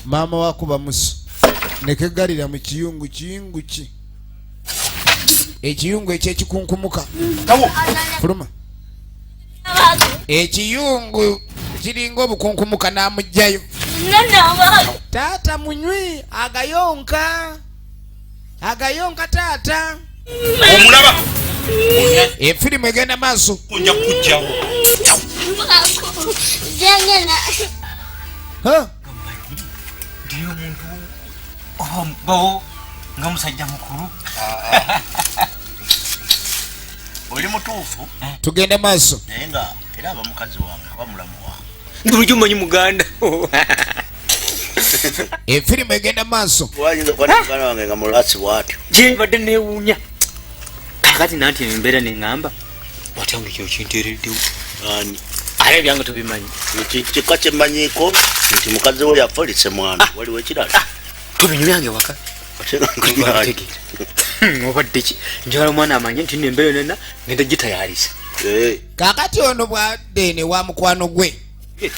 maama wakuba musu nekegalira mu kiyungu kiyungu ki ekiyungu ekyekikunkumuka fuluma ekiyungu kiringa obukunkumuka namugjayo taata munywi agayonka agayonka taata omulaba efirimu egenda maaso oja kujjawo bawo nga musajja mukulu oli mutuufu tugende maaso naye nga era aba mukazi wange aba mulamu wange ndi lujumanyi muganda efirimu egenda maaso wayinza okuba nemugana wange nga mulasi bwatyo gyebadde newuunya kakati nanti embeera neŋamba watya nga ekyokinteereddewo ani ate ebyange tubimanyi kika kyemanyiko nti mukazi we yafolise mwana ah. waliwo ekirala ah. tubinyumyange waka obaddeki njala omwana amanye nti nembeera nena ngenda gitayalisa eh. kakati ono bwadde ne wa mukwano gwe eh.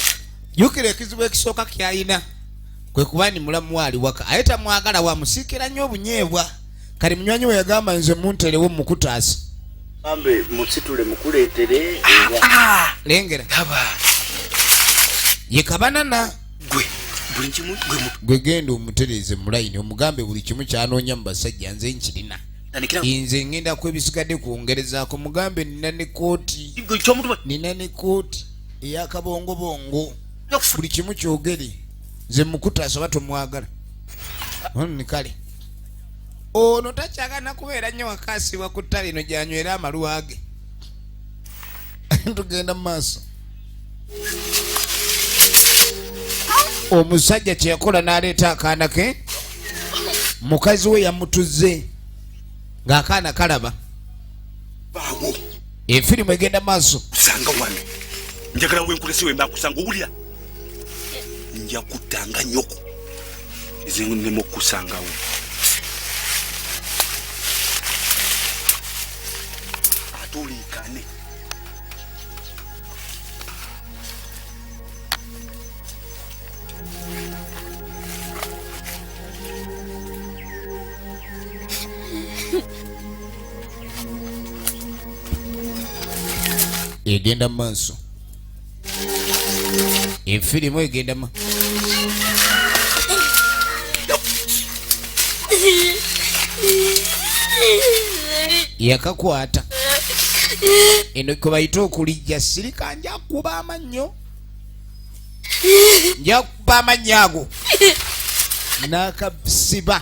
jukira ekizibu ekisooka kyalina kwe kuba ni mulamu waali waka aye tamwagala wamusiikira nnyo obunyeebwa kali munywanyi we yagamba nze munterewo mukutaasa ambe musitule mukuleetere lengera ye kabanana gwe buli kimu gwe mu gwe genda omutereeze mu layini omugambe buli kimu kyanoonya mu basajja nze nkirina nze ngenda kwebisigadde kwongerezaako mugambe nina ne kooti nina ne kooti eyakabongobongo buli kimu kyogere nze mukuta asaba tomwagala ni kale ono takyagana kubeera nnyo wakaasibwa ku ttale ino gyanywera amaluwa ge tugenda mu maaso omusajja kyeyakola n'aleeta akaana ke mukazi we yamutuzze ng'akaana kalaba efirimu egenda maaso sanga wano njagala wenkulesi wemba kusanga owulira nja kuttanga nyoko ezinema okukusangawo ate oliikane egenda mu maaso efirimu egenda mu yakakwata eno kwebayita okulijja sirika njakuba amannyo njakuba amannyo ago nakasiba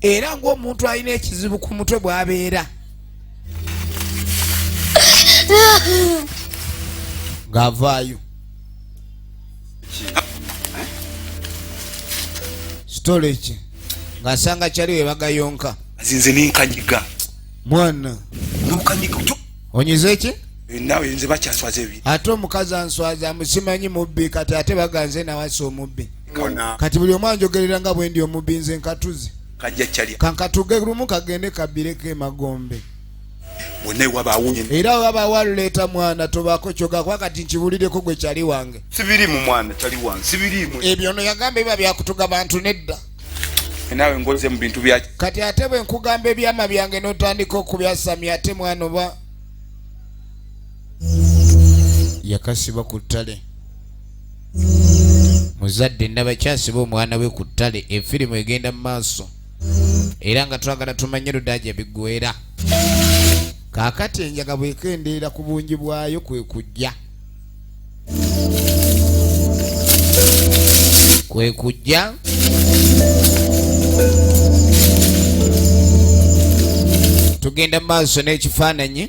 era ng'omuntu alina ekizibu ku mutwe bw'abeera ng'avaayo sitoleki ng'asanga kyali we bagayonka azinze nenkanyiga mwana nokanyiga onyize ki eh, nawe nze bakyaswaza ebi ate omukazi answaza amusimanyi mubbi kati ate baganze nawasa omubbi kati buli omu anjogerera nga bwendi omubinze nkatuzi kankatuge lumu kagende kabireko emagombe era waba waleeta mwana tobako kyoga kuba kati nkibuliddeko gwe kyali wange ebyo no yagamba biba byakutuga bantu nedda nawe ngoze mu bintu bya kati ate bwe nkugamba ebyama byange n'otandika okubyasamya ate mwana oba yakasiba ku ttale muzadde nabakyasiba omwana we ku ttale efirimu egenda mu maaso era nga twagala tumanye ludaja bigwera kaakati enjaga bwekendeera ku bungi bwayo kwe kujja kwe kujja tugenda mu maaso n'ekifaananyi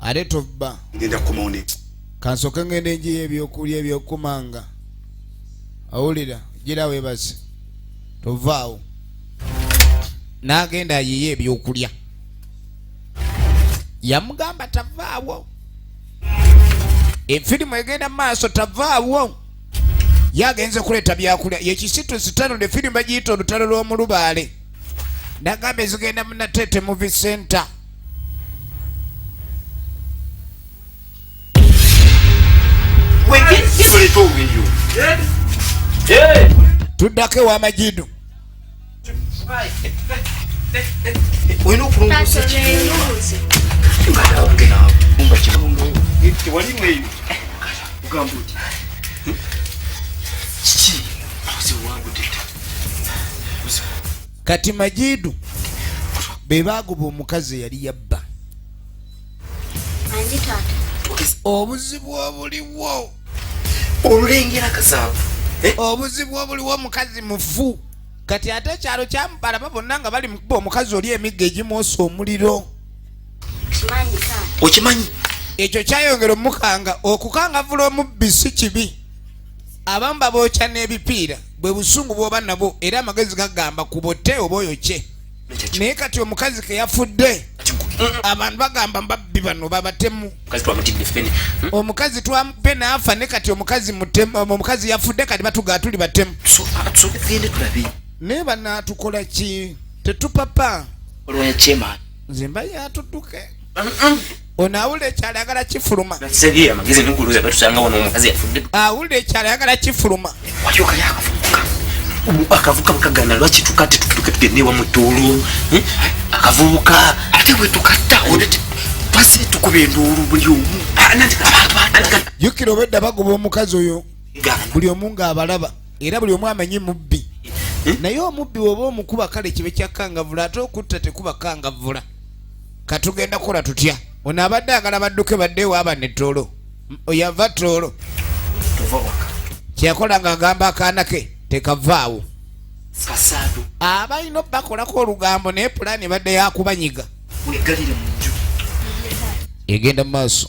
ate tobba ngenda kumaone kansoke ngende enjiyo ebyokulya ebyokumanga awulira gira webaze tovaawo n'agenda ayiye ebyokulya yamugamba tavaawo efirimu egenda maaso tavaawo yagenze kuleeta byakulya yekisitusi tano ne firimu bagiyita olutalo lw'omulubaale nagamba ezigenda munatete muvi center tuddako ewamajidu olina okulongosa kati majidu be baagoba omukazi eyali yabba obuzibu obuliwo olulengera kasaavu eh? obuzibu obuliwo omukazi mufu kati ate ekyalo kyamubalaba bonna nga bali mukuba omukazi oli emigga egimwosa omuliro okimanyi ekyo kyayongera omukanga okukangavula omubbi si kibi abamu babookya n'ebipiira bwe busungu bw'oba nabwo era amagezi gagamba ku bote oba oyo kye naye kati omukazi ke yafudde abantu bagamba mbabbi bano babatemu hmm? omukazi twamupe naafa ne kati omukazi mutemu omukazi yafudde kati batugaa tuli batemu naye banaatukola ki tetupapa nze mba yatutuke ono awulira ekyalo ayagala kifuluma awulira ekyalo ayagala kifuluma akavuka bukagana lwaki tuka tetuke tugende ewa mutuulu eh? akavubuka ate wetukatta twasire tukuba enduulu buli omu ah, jukira obedda bagoba omukazi oyo buli omu ngaabalaba era buli omu amanyi mubbi eh? naye omubbi woba omukuba kale kibe kyakangavula ate okutta tekuba kangavula katugenda kukola tutya ono abadde agala badduke badde waaba ne toolo oyava toolo kyeyakola nga agamba akaana ke tekavaawo abalina okubakolako olugambo naye pulaani ebadde yakubanyiga egenda mu maaso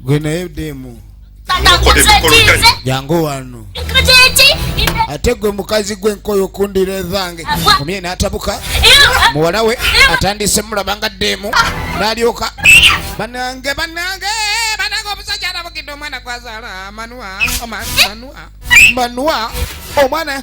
gwe naye demu jangu wano ate gwe mukazi gwe nkoyo okundira ezange omye natabuka muwala we atandise mulaba nga demu nalyoka banange banange banange omusajja alabukidde omwana gwazala manua manua manua omwana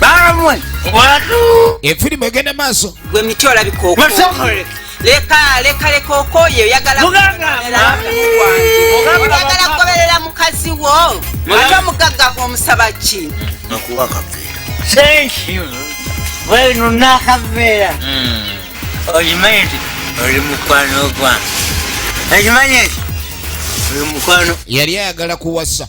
bamwe watu efirimu egenda maaso gwe miti olabika okokoleka leka leka leka okoye oyagala oyagala kugoberera mukazi wo ate omugagga omusaba ki akuwa akaveera thank you wenu nakaveera hmm. okimanyi nti oli mukwano gwange okimanyi nti oli mukwano yali ayagala kuwasa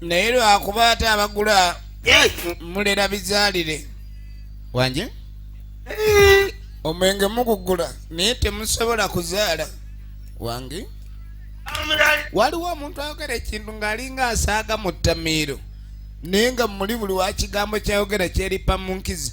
naye lwakuba ate abagula mulera bizaalire wanje eh. omwenge mugugula naye temusobola kuzaala wange waliwo omuntu ayogera ekintu ng'alinga asaaga mu ttamiiro naye nga muli buli wa kigambo kyayogera kyeripa mu nkizi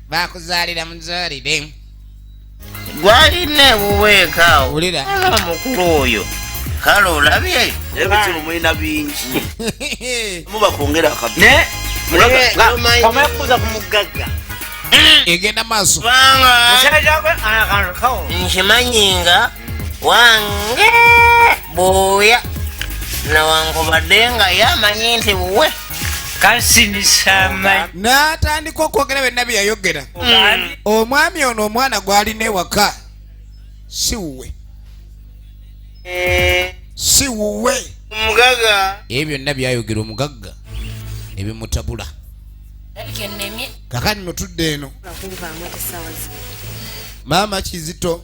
bakuzaalira muzaalire gwalina ewuweeka wulira omukulu oyo kale olabye ebizibu mulina bingi muba kwongera akabiomekuza ku mugagga egenda maaso nkimanyi nga wange buuya newankubadde nga yamanyi nti buwe kasinisama n'atandika okwogera byonna bye yayogera omwami ono omwana gw'alina ewaka si wuwe eh. si wuwe ebyo byonna byayogera omugagga ne bimutabula kakati notudde eno maama kizito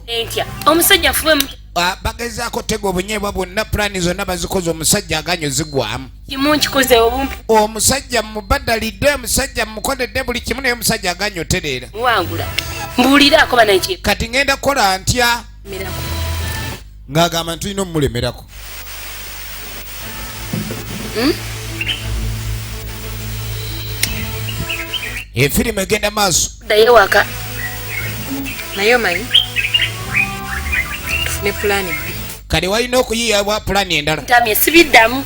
omusajja fube ah, bagezaako tega obunyeebwa bwonna pulaani zonna bazikoze omusajja aganyo zigwamu omusajja mubadalidde omusajja mukodedde buli kimu naye omusajja aganyo tereera kati ngenda kukola ntya ng'agamba nti tulina omumulemerako hmm? efirimu egenda maaso ddayo waka naye omanyi tufune pulaani bbi kale walina okuyiyawa pulaani endala tamye sibiddamu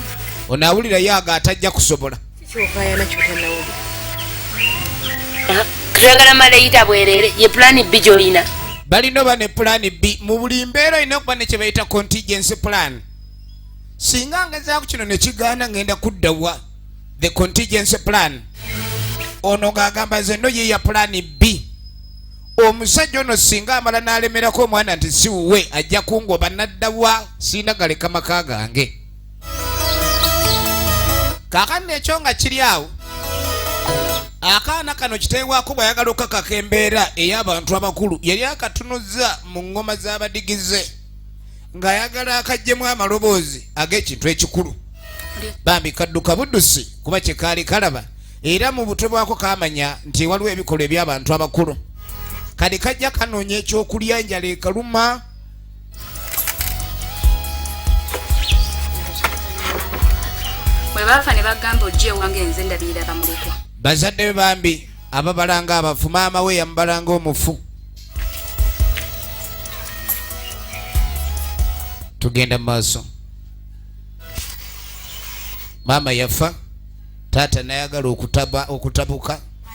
onaawulira yaaga atajja kusobola twagala malayita bwerere ye pulani bbi gyolina balina oba ne pulani bbi mu buli mbeera olina okuba ne kyebayita contingency plan singa ngezaako kino ne kigaana ngenda kuddawa the contingency plan ono ng'agamba nze no ye ya pulani bbi omusajja ono singa amala n'alemerako omwana nti siwuwe ajja kungoba naddawa sirina galeka maka gange kaakano ekyo nga kiri awo akaana kano kiteewako bw'ayagala okukakaka embeera ey'abantu abakulu yali akatunuzza mu ŋŋoma z'abadigize ng'ayagala akajjemu amaloboozi ag'ekintu ekikulu bambi kadduka buddusi kuba kye kaali kalaba era mu butwe bwako kaamanya nti waliwo ebikolwa eby'abantu abakulu kati kajja kanoonya ekyokulya njala ekaluma bwebaafa ne bagamba ojja ewange nze ndabirira bamulekwa bazadde be bambi ababalanga abafu maama we yamubalanga omufu tugenda mu maaso maama yafa taata nayagala okutabuka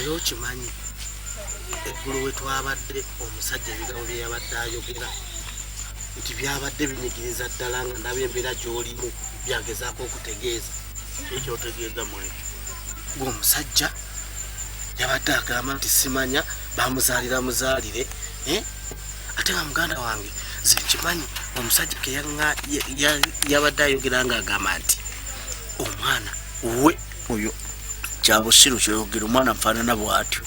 era okimanyi eggulu we twabadde omusajja ebigambo bye yabadde ayogera nti byabadde binyigiriza ddala nga ndaba embeera gy'olimu byagezaako okutegeeza ekyotegeeza mu ekyo gweomusajja yabadde agamba nti simanya bamuzaalira muzaalire eh? ate nga muganda wange nze nkimanyi omusajja yabadde ayogera nga agamba nti omwana we oyo kyabusiru kyoyogera omwana nfaanana bwatyo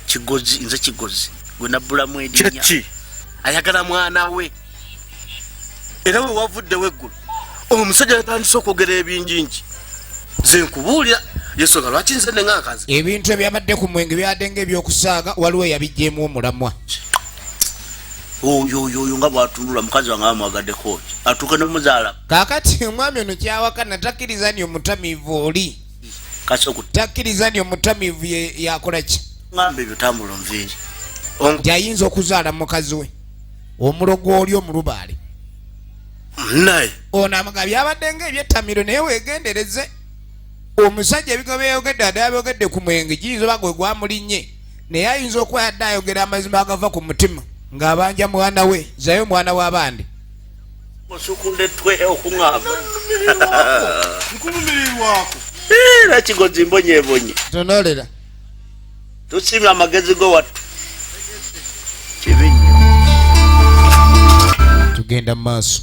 kigozi nze kigozi gwe nabbulamu edinya ayagala mwana we era we wavuddewo eggulu omusajja yatandise okwogera ebinjinji ze nkubuulira yesonga lwaki nze ne ngankazi ebintu ebyabadde ku mwenge byadde nga ebyokusaaga waliwo eyabijjeemu omulamwa oyoyoyo nga bwatunula mukazi wange amwagadeko ki atuuke nomuzaala kakati omwami ono kyawakana takkiriza ni omutamiivu oli takkiriza ni omutamiivu yakola ki ŋamba ebyo tambula nviiri nti ayinza okuzaala mukazi we omulogo oli omulubaale naye ono amaga byabadde nga ebyettamiro naye wegendereze omusajja ebigo byeyogedde adala byogedde ku mwenge giyinza oba gwe gwamulinnye naye ayinza okuba yadde ayogera amazima agava ku mutima ng'abanja mwana we zayo mwana w'abandi era kigozi mbonyebonye tonolera tusiima amagezi go wattu kibi nnyo tugenda mu maaso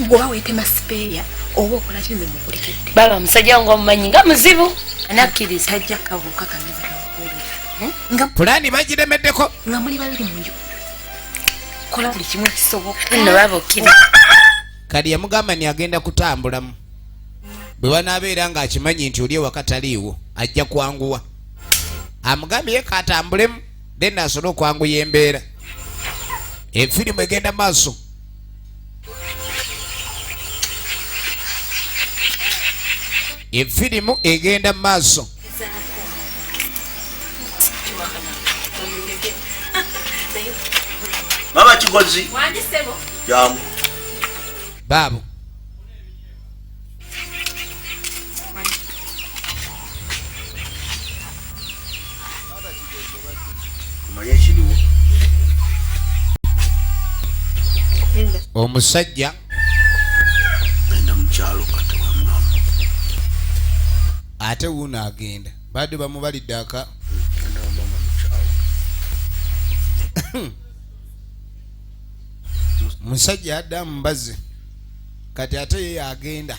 ngoba wetema sipeeya oba okola kinze mukulikidde baba omusajja wange omumanyi nga muzibu anakkiriza tajja kabuuka kameza kakuulira hmm? nga pulaani bagiremeddeko nga muli babiri mu nju kola buli kimu ekisoboka nno baba okkira kali yamugamba ni agenda kutambulamu bwe banaabeera ng'akimanyi nti oli ewaka taliiwo ajja kwanguwa amugambye ye katambulemu then asobole okwanguya embeera efirimu egenda maaso efirimu egenda mu maaso mama kigozi baabo omusajja genda mukyalo katewamulamu ate wuuno agenda badde bamubalidde aka musajja adda mbazi kati ate ye yagenda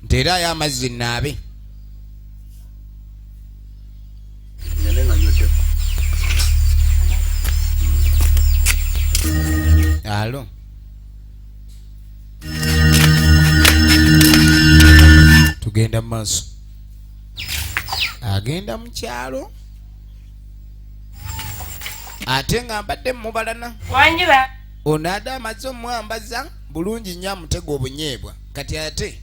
nti era ayo amazzi naabe alo tugenda mu maaso agenda mu kyalo ate nga mbadde mubalana wanjira ono ada amaze omwambaza bulungi nnyo amutega obunyeebwa kati ate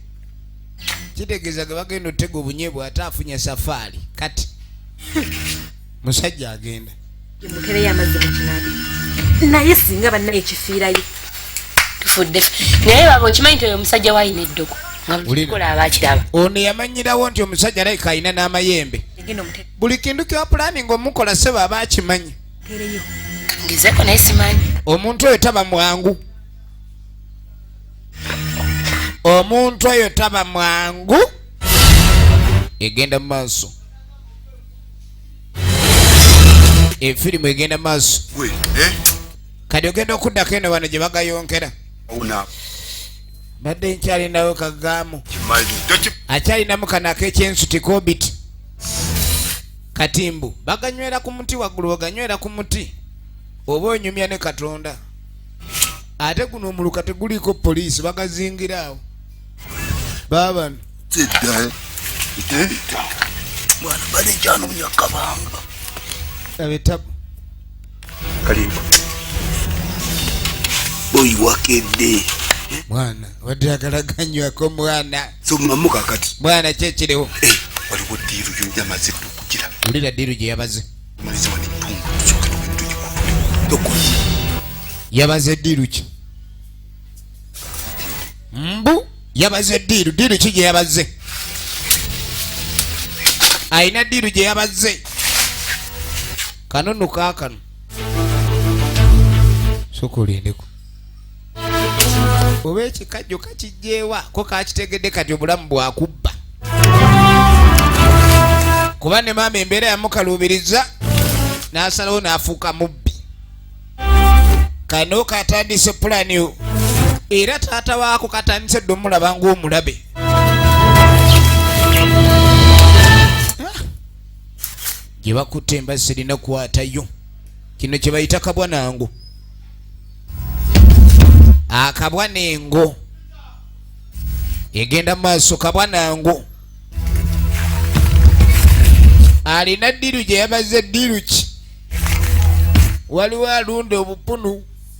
kitegeeza ge bagenda otega obunyeebwa ate afunye safaari kati musajja agenda mutereyo amazzi mukinabi naye singa bannaye kifiirayo tufudde naye baba okimanyi nti oyo omusajja wayina eddogo nga buli kikola aba akiraba ono yamanyirawo nti omusajja alabika alina n'amayembe buli kintu kyopulaninga omukola sebo aba akimanyi ngezeko naye simanyi omuntu oyo taba mwangu omuntu oyo taba mwangu egenda mu maaso efirimu egenda mu maaso eh? kati ogenda okuddako eno bano gye bagayonkera mbadde nkyalinawo kagaamu akyalinamu kano akekyensuti kobiti kati mbu baganywera ku muti waggulu oganywera ku muti oba onyumya ne katonda ate guno omuluka teguliiko poliisi bagazingiraawo baabano bwana bali kyanumya kabanga abetabu kalimba boyi wakedde mwana wadde agala ganywako mwana somamu kakati mwana kyekiriwo eh, waliwo diiru yonyamaze ddu okugira ulira diiru gye yabaze maliziwa netundu tusoketuwetugikutuli yabaze diiru ki mbu yabaze diiru diiru ki gye yabaze alina diiru gye yabaze kano no kakano sokolindeko oba ekikajjo kakijjeewa ko kakitegedde kati obulamu bwakubba kuba ne maama embeera yamukaluubiriza n'asalawo n'afuuka mubbi kano katandise pulani era taata waako katandise dde omulaba ng'omulabe gye bakutte embazzi erina kukwatayo kino kye bayita kabwa nangu akabwa nengo egenda mu maaso kabwa nangu alina ddiiru gye yabaze ddiiru ki waliwo alunda obupunu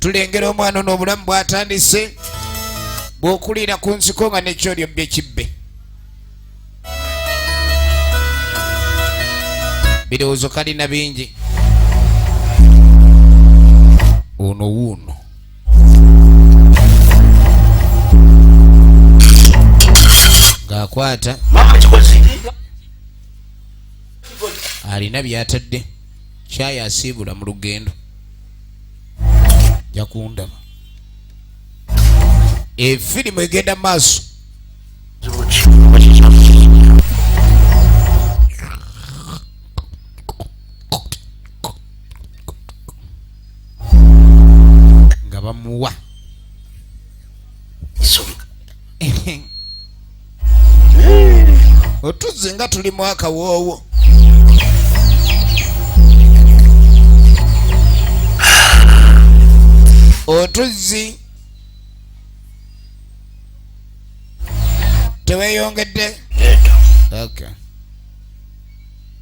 tulengera omwana ono obulamu bwatandise bwokuliira ku nsiko nga nekyolyo byekibbe birowoozo kalina bingi ono wuuno ng'akwata alina byatadde kyayi asiibula mu lugendo jakundaba efirimu egenda maaso nga bamuwa otuzze nga tuli mu akawoowo otuzzi teweyongedde okay.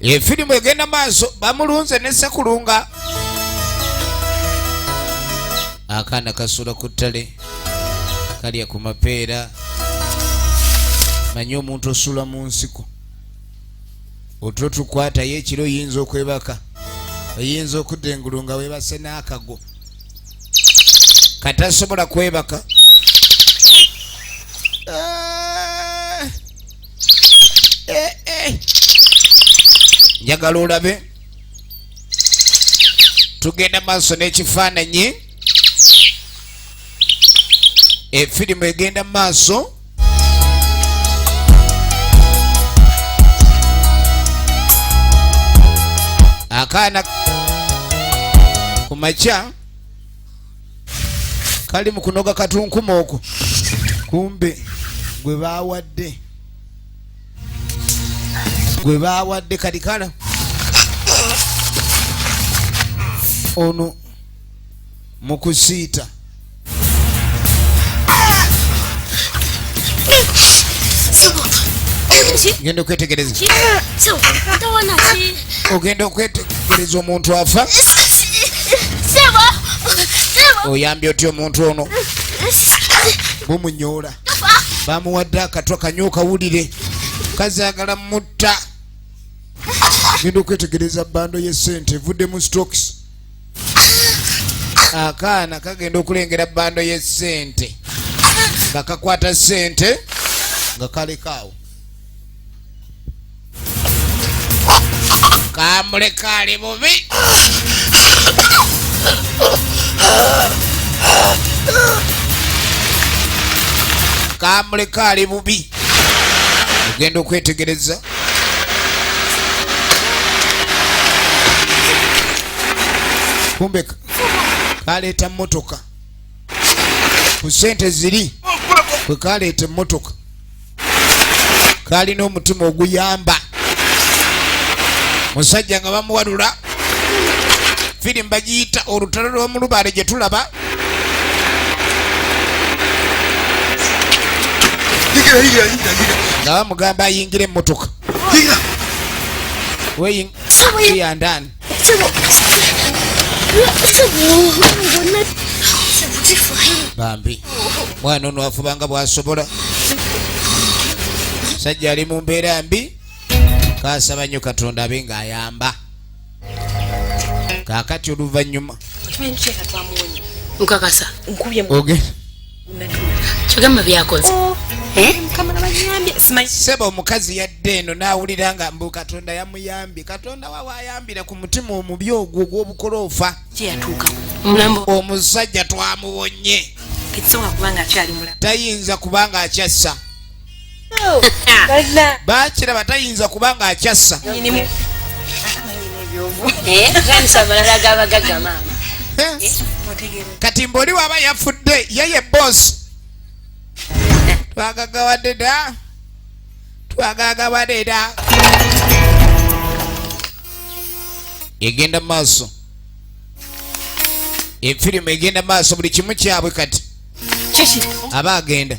efirimu egenda maaso bamulunze ne sekulunga akaana kasula ku ttale kalya ku mapeera manye omuntu osula mu nsiko otulo tukwatayo ekiro oyinza okwebaka oyinza okudda engulu nga webase n'akago katasobola kwebaka ah! eh, eh. njagala olabe tugenda maaso n'ekifaananyi efirimu egenda mu maaso akaana ku makya kali mu kunoga katunkuma okwo kumbe gwe bawadde gwe bawadde kali kala ono mu kusiita genda okwetegereza ogenda okwetegereza omuntu afa oyambye otya omuntu ono bumunyoola bamuwadde akatwa kanywa okawulire kazagala mutta genda okwetegereza bando yesente evudde mu stocks akaana kagenda okulengera bando yesente nga kakwata sente nga kalekaawo kamuleka ali bubi kamuleka ali bubi ogenda okwetegereza kumbe kaleeta mmotoka ku sente ziri kwe kaleeta emmotoka kalina omutima oguyamba musajja nga bamuwalula firimu bagiyita olutalo lw'omulubaale gye tulaba nga bamugamba ayingire emmotoka weyandani bambi mwana ono afubanga bwasobola sajja ali mu mbeera mbi kasaba nnyo katonda abe ng'ayamba kakati oluvannyuma okakasa nkubye kyogamba byakoze oh, eh? sebo omukazi yadde eno nawulira nga mbu katonda yamuyambye katonda wawe ayambira ku mutima omubi ogwo ogwobukoloofa omusajja twamubonye tayinza kubanga akyassa bakiraba tayinza kuba nga akyassa kati mbaoli waaba yafudde yeye bosi twagagawadde da twagagawadde da egenda maaso efirimu egenda maaso buli kimu kyabwe kati aba agenda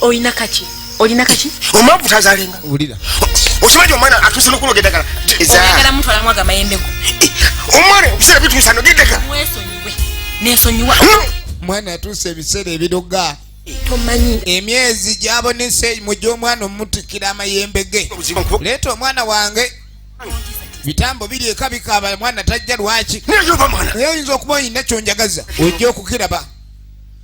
olina kaki olina kaki omwavu tazalenga wulira okimanyi omwana atuuse nokuloga eddagala ezagala muntu alamu aga mayembe go omwana okusera bituusa noga eddagala mwesonyiwe nesonyiwa mwana atuuse ebiseera ebiroga tomanyi emyezi gyabonese mu gy'omwana omutikira amayembe ge leeta omwana wange bitambo biri eka bikaaba mwana tajja lwaki naye oyinza okuba oyina kyonjagaza ojja okukiraba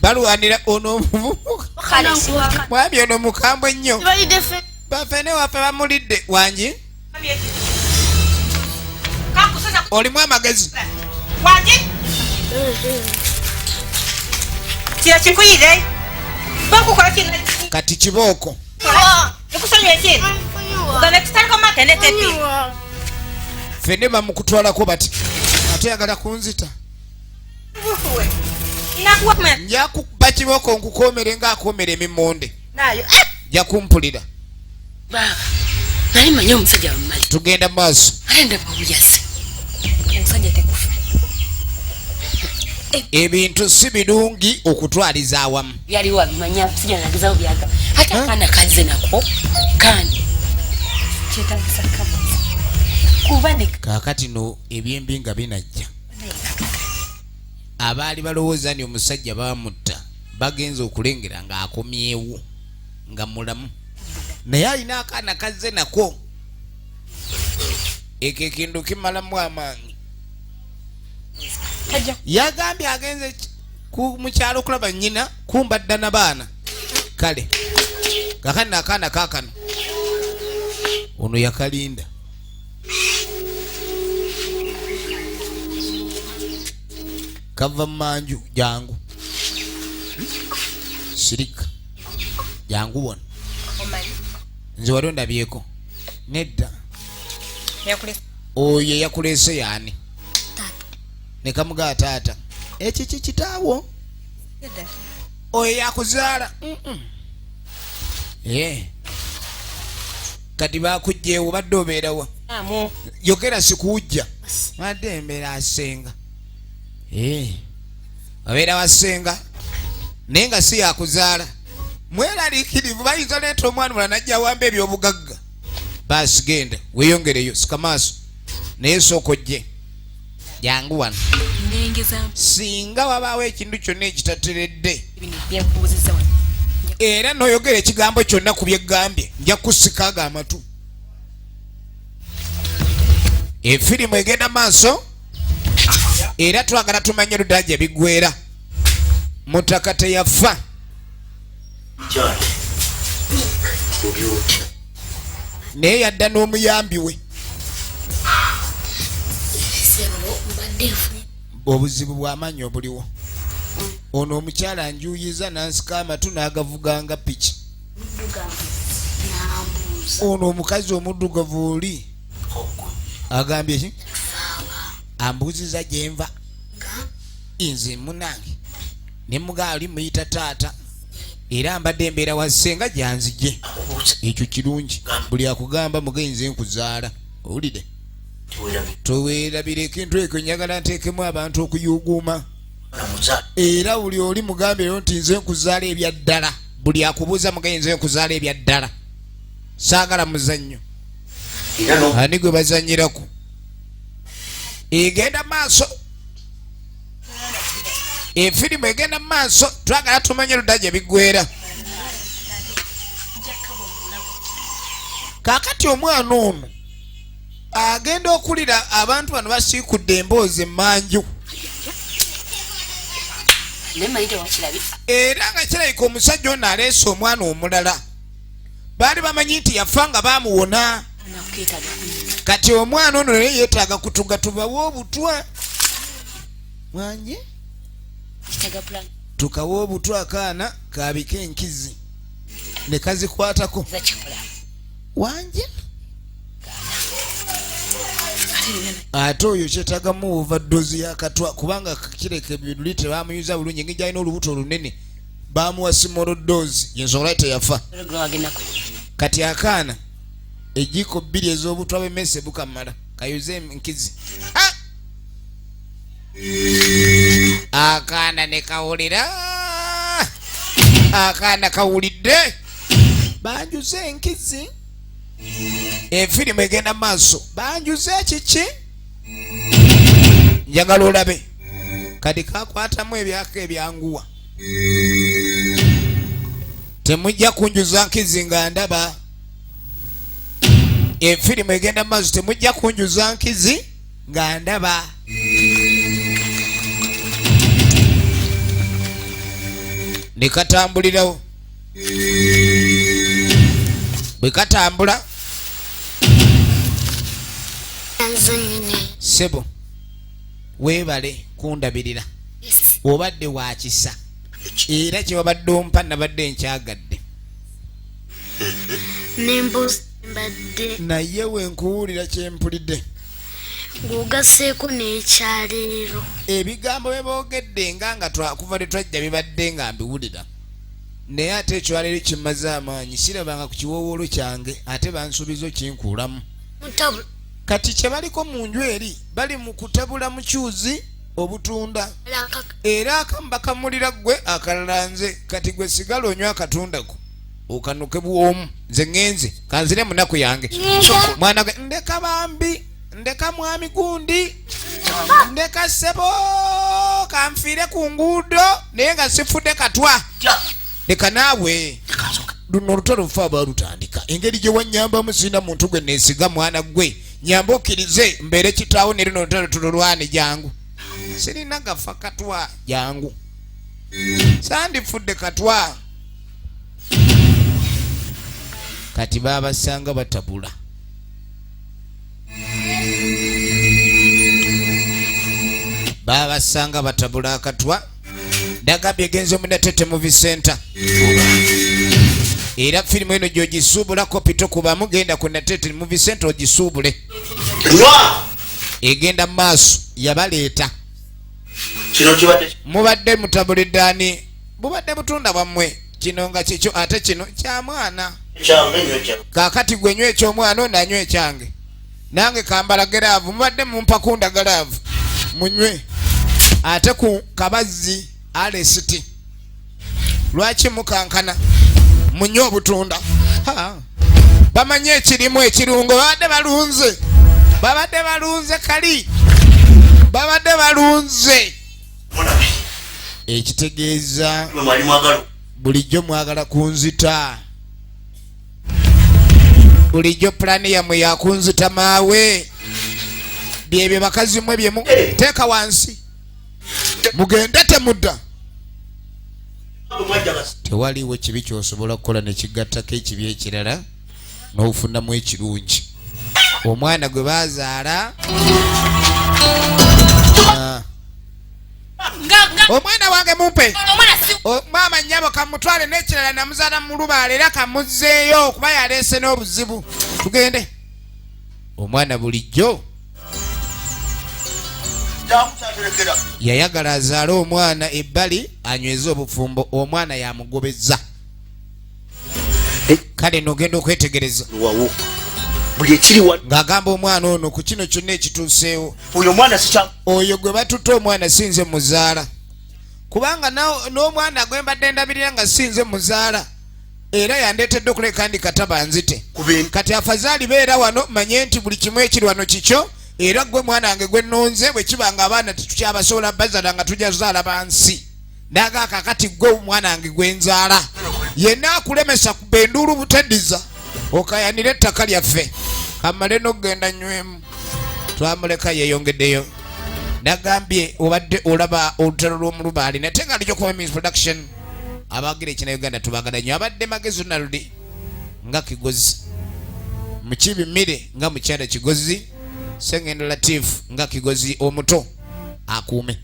balwanira ono mwami ono mukambwe nnyo bafene waffe bamulidde wangi olimu amagezi kati kibooko fene bamukutwalako bati atoyagala kunzita njakuba kiboko nkukomere nga akomera emimonde eh! jakumpulira tugenda maaso ebintu si birungi okutwaliza awamu byaliwo abimanya sija nagezawo byaga hata huh? kana kaze nako kani kyetagisa kabuza kubadika kakati no ebyembi nga binajja abaali balowooza ni omusajja bamutta bagenza okulengera nga akomyewo nga mulamu naye alina akaana kazze nako ekyo ekintu kimalamu amaanyi yagambye agenze ku mukyalo okulaba nyina kumba dda na baana kale kakani nakaana kakano ono yakalinda kava mumanju jangu sirika jangu bona nze wali ondabyeko nedda oyo eyakuleese yaani ne kamugaa taata ekyo kye kitaawo oyo yakuzaala kati bakugjewo badde obeerawa yogera sikuwujja badde embeera asenga abeera wasenga naye nga si yakuzaala mweraliikirivu bayinza leeta omwana mula najja awamba ebyobugagga baasi genda weyongereyo sikamaaso naye sooka ojje jangu wano singa wabaawo ekintu kyonna ekitateredde era noyogera ekigambo kyonna ku byeggambye nja kusikaaga amatu efirimu egenda maaso era twagala tumanye oludda gye biggwera mutaka teyafa naye yadda n'omuyambi we obuzibu bwamaanyi obuliwo ono omukyala njuyiza nansika amatu n'agavuganga piki ono omukazi omuddugavu oli agambye ki ambuuziza gyenva nze munange ne mugaa oli muyita taata era mbadde embeera wa ssenga gyanzije ekyo kirungi buli akugamba mugenze nkuzaala owulire towerabireko entu ekyo njagala nteekemu abantu okuyuguuma era buli oli mugambe ero nti nze nkuzaala ebya ddala buli akubuuza mugaye nze nkuzaala ebya ddala saagala muzannyo ani gwe bazanyirako egenda maaso efirimu egenda mu maaso twagala tumanye ludda gye biggwera kakati omwana ono agenda okulira abantu bano basiikudde emboozi emanju era nga kirabika omusajja ono aleese omwana omulala baali bamanyi nti yafa nga baamuwona kati omwana ono naye yeetaaga kutuga tubawe obutwa mwanye tukawa obutwa akaana kaabika enkizi ne kazikwatako wanje ate oyo kyetagamu overdose yakatwa kubanga kireka ebiruli tebamuyuza bulungi ngejalina olubuto olunene baamuwa simoro doozi yensonga lwaki teyafa kati akaana ejjiko bbiri ez'obutwa bwemese bukamala kayuze nkizi akaana ne kawulira akaana kawulidde banjuze enkizi efirimu egenda maaso banjuze kiki njagala olabe kati kakwatamu ebyaka ebyanguwa temujja kunjuza nkizi nga ndaba efirimu egenda mu maaso temujja kunjuza nkizi nga ndaba ne katambulirawo bwe katambula sebo weebale kundabirira obadde wakisa era kyewabadde ompa nabadde nkyagadde naye wenkuwulira kyempulidde ng'ogasseeko n'ekyaleero ebigambo bye boogedde nga nga twakuva lwe twajja bibadde nga mbiwulira naye ate ekyaleero kimaze amaanyi sirabanga ku kiwoowoolo kyange ate bansuubiza okinkuulamu kati kyebaliko mu nju eri bali mu kutabula mukyuzi obutunda era akamu bakamulira gwe akalala nze kati gwe sigala onywa akatundako okanuke bwomu nze ŋenze kanzire munaku yange mwana gwe ndeka bambi ndeka mwami gundi ndeka sebo kanfiire ku nguudo naye nga sifudde katwa leka naawe luno oluto lufa abalutandika engeri gye wanyambamu sirina muntu gwe neesiga mwana gwe nyamba okkirize mbeere kitaawo ne luno oluto lutululwane jangu sirina gafa katwa jangu sandifudde katwa kati baabasanga batabula babasanga batabula akatwa nagambye genza omunatete muvi center era firimu eno gyogisuubulako pito kubamu genda ku natete muvi center ogisuubule egenda mu maaso yabaleeta mubadde mutabulidde ani bubadde butunda bwammwe kino nga kikyo ate kino kyamwana kakati gwe nywa ekyomwana ono anywa ekyange nange kambala geraavu mubadde mumpa kunda geraavu munywe ate ku kabazzi alesiti lwaki mukankana munywe obutunda bamanyi ekirimu ekirungo babadde balunze babadde balunze kali babadde balunze ekitegeeza bulijjo mwagala kunzita bulijjo pulaani yammwe yakunzita maawe byebyo bakazi mwe bye eh. teeka wansi mugende temudda tewaliwo kibi kyosobola kukola nekigattako ekibi ekirala n'ofunamu ekirungi omwana gwe bazaala omwana wange mumpe maama nyabo kamutwale n'ekirala namuzaala mu lubaala era kamuzzeeyo okuba yaleese n'obuzibu tugende omwana bulijjo yayagala azaale omwana ebbali anyweze obufumbo omwana yamugobezza kale nogenda okwetegereza buli ekiriwa ng'agamba omwana ono ku kino kyonna ekituuseewo oyo omwana sikya oyo gwe batutte omwana sinze muzaala kubanga n'omwana gwe mbadde ndabirira nga sinze muzaala era yandeetedde okuleka ndi kataba nzite kati afazaali beera wano manye nti buli kimu ekiri wano kikyo era gwe mwana wange gwe nnonze bwe kiba nga abaana tetukyabasobola bazala nga tujja zaala bansi naga kakati gwe omwana wange gwenzaala yenna akulemesa kuba enduulu butediza okayanira ettaka lyaffe kamale nokugenda nywemu twamuleka yeyongeddeyo nagambye obadde olaba olutalo lwomulubaali nate nga lijokomemis production abagira ekina uganda tubagala nyo abadde magezi naludi nga kigozi mukibi mire nga mukyala kigozi sengendo latif nga kigozi omuto akuume